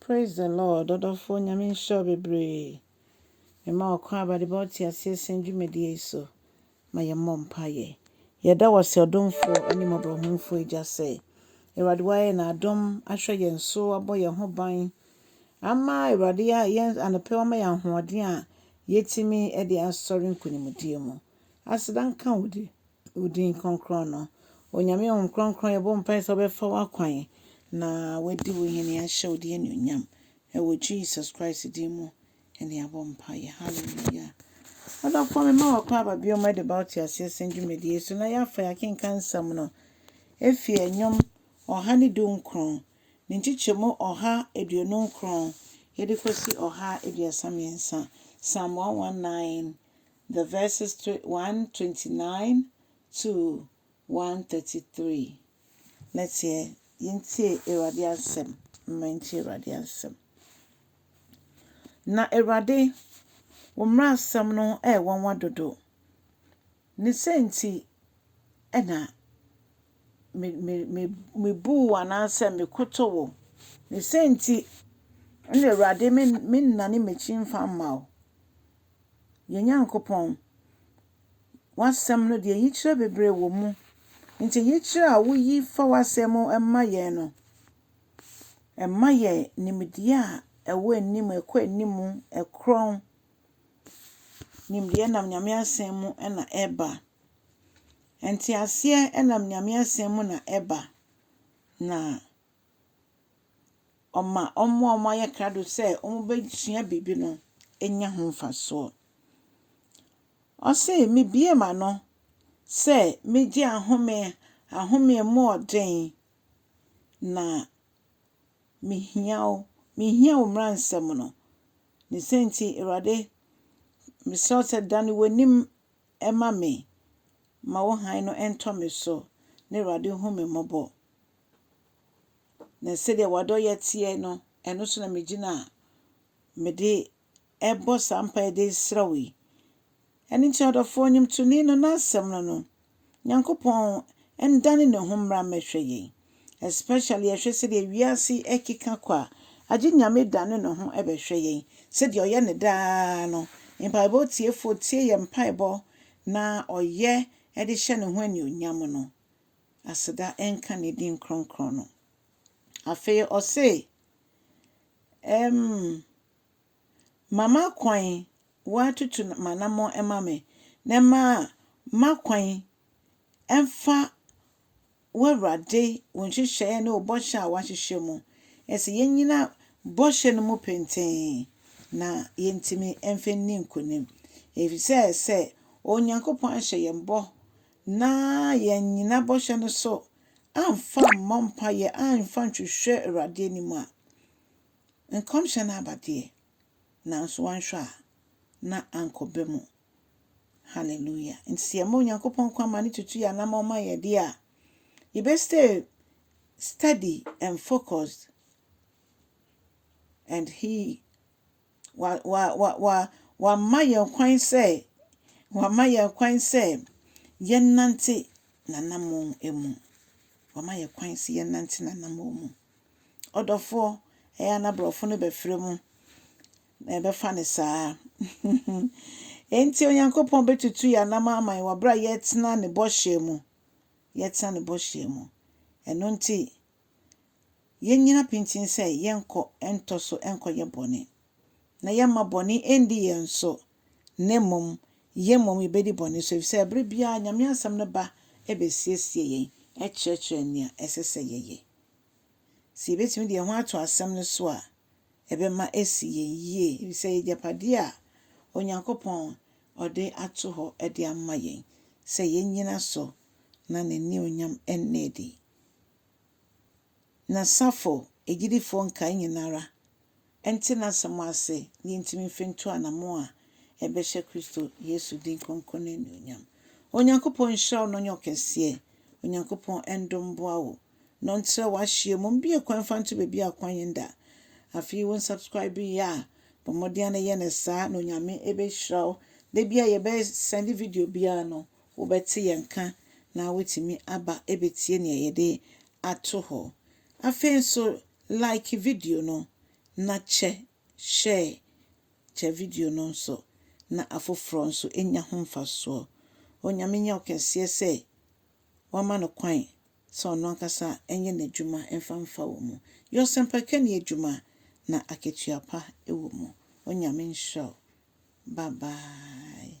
Praise the Lord ɔdɔfoɔ Nyame nhyira wo bebree mema wo kwan aba de bɛma wo te aseɛ sɛn dwumadie yi so ma yɛ mmɔ mpaeɛ yɛda wo ase ɔdomfoɔ ɛne mmɔborɔhunfoɔ agya sɛ Awurade wayɛ na adom ahwɛ yɛn so abɔ yɛn ho ban ama Awurade yɛn anɔpɛ wama yɛn ahoɔden a yɛtumi de asɔre nkonimdie mu Aseda nka wo di wo din krɔnkrɔn no. Onyame honhom krɔnkrɔn yɛbɔ mpae sɛ wobɛfa w'akwan na wadi wo hene ahyɛ wo din anuonyam ɛwɔ Jesus Christ din mu ɛne yɛabɔ mpaeɛ hallelujah. Ɔdɔfoɔ me ma wɔ kwan aba bio ma de ba wo te aseɛ sɛn dwumadie so na yɛafa yɛakenka nsɛm no ɛfiri ɛnwom ɔha ne du nkron ne nkyekyɛmu ɔha aduonu nkron yɛde kɔsi ɔha aduasa mmiɛnsa Psalm 119 The verses 129-133. Nɛteɛ yɛntie Awurade asɛm, momma yɛntie Awurade asɛm. Na Awurade, wo mmrasɛm no yɛ nwanwa dodo, ne sɛ nti na mebu wo anaa sɛ mekoto wo, ne sɛ nti na Awurade mennane m'akyi mfa mma wo. Yɛn Nyankopɔn, w'asɛm no deɛ yikyerɛ bebree wɔ mu. Nti yikyerɛ a woyi fa w'asɛm mu ma yɛn no, ɛma yɛn nimdeɛ a ɛwɔ anim, ɛkɔ anim, ɛkorɔn. Nimdeɛ nam Nyame asɛm mu na ɛba. Nteaseɛ nam Nyame asɛm mu na ɛba. Na. ɔma wɔn a wɔayɛ krado sɛ wɔbɛsua biribi no nya ho mfasoɔ. Ɔse, Mebue m'ano sɛ megye ahome, ahome mu ɔden, na mehia wo, mehia wo mmara nsɛm no. Ne sɛ nti, Awurade, mesrɛ wo sɛ dane w'anim ma me, ma wo hann no ntɔ me so, na Awurade hu me mmɔbɔ. Na sɛdeɛ w'adɔeɛ teɛ no, ɛno so na megyina a mede ɛrebɔ saa mpaeɛ de resrɛ wo yi. Ɛno nti ɔdɔfoɔ nnwomtoni no n'asɛm no no, Nyankopɔn ndane ne ho mmra mmɛhwɛ yɛn. Especially yɛhwɛ sɛdeɛ wiase ɛkeka kɔ a, agye Nyame dane ne ho bɛhwɛ yɛn sɛdeɛ ɔyɛ no daa no. Mpaebɔ tiefoɔ tie yɛn mpaebɔ na ɔyɛ de hyɛ ne ho anuonyam no. Aseda nka ne din kronkron no. Afei ɔse, Ɛm, ma m'akwan, woatutu m'anammɔn ma me, na ma m'akwan mfa w'Awurade, wo nhyehyɛeɛ ne wo bɔhyɛ a woahyehyɛ mu. Ɛsɛ yɛnyina bɔhyɛ no mu pintinn na yɛntumi mfa nni nkonim, ɛfiri sɛ sɛ Onyankopɔn ahyɛ yɛn bɔ na yɛannyina bɔhyɛ no so amfa ammɔ mpaeɛ amfa anhwehwɛ Awurade anim a, nkɔmhyɛ no aba deɛ, nanso wanhwɛ a, na ankɔ bɛ mu. Hallelujah. Nti sɛ yɛma Onyankopɔn kwan ma ne tutu yɛ anamɔ ma yɛ deɛ a, yɛbɛ stay steady and focused and he Wa, wa, wa, wa, wama yɛn kwan sɛ, wama yɛn kwan sɛ yɛnnante n'anammɔn mu. Wama yɛn kwan sɛ yɛnnante n'anammɔn mu. Ɔdɔfoɔ, ɛyɛ a na borɔfo no bɛfrɛ mu na ɛbɛfa no saa. Enti Onyankopɔn bɛtutu yɛn anam ama yɛn wɔ berɛ a yɛtena ne bɔhyɛ mu. Yɛtena ne bɔhyɛ mu. Ɛno nti, Yennyina pintinn sɛ yɛrenkɔ ntɔ so nkɔyɛ bɔne, na yɛremma bɔne nndi yɛn so, na mmom yɛn mmom yebedi bɔne so, efisɛ bere biara Nyame Asɛm no ba besiesie yɛn, kyerɛkyerɛ nea ɛsɛ sɛ yɛyɛ. Sɛ yebetumi de yɛn ho ato Asɛm no so a, ɛbɛma asi yɛn yiye, efisɛ ɛyɛ agyapade a Onyankopɔn de ato hɔ de ama yɛn sɛ yennyina so na n'anuonyam nna adi. Na Sappho agyidifoɔ nkae nyinara nte n'asɛm ase na yɛntumi mfe nto anamɔn a ɛbɛhyɛ Kristo Yesu din kronkron no anuonyam. Onyankopɔn nhyira wo na ɔnyɛ wo kɛseɛ. Onyankopɔn ndom mboa wo na ɔntrɛ w'ahyeɛ mu. Mbue kwan mfa nto baabi a kwan nda. Afei wo nsubscribe yɛ a, bɔ mmɔden ara na yɛ no saa na Onyame bɛhyira wo. Da biara yɛbɛ sɛnde video biara no, Wobɛte yɛn nka na woatumi aba abɛtie nea yɛde ato hɔ. Afei nso, like video no, na kyɛ share kyɛ video no nso na afoforɔ nso nya ho mfasoɔ. Onyame nyɛ ɔkɛseɛ sɛ wama no kwan sɛ ɔno ankasa nyɛ n'adwuma mfa mfa wo mu. Yɛ ɔsɛmpakani adwuma na akatua pa wɔ mu. Onyame nhyira wo. Bye bye.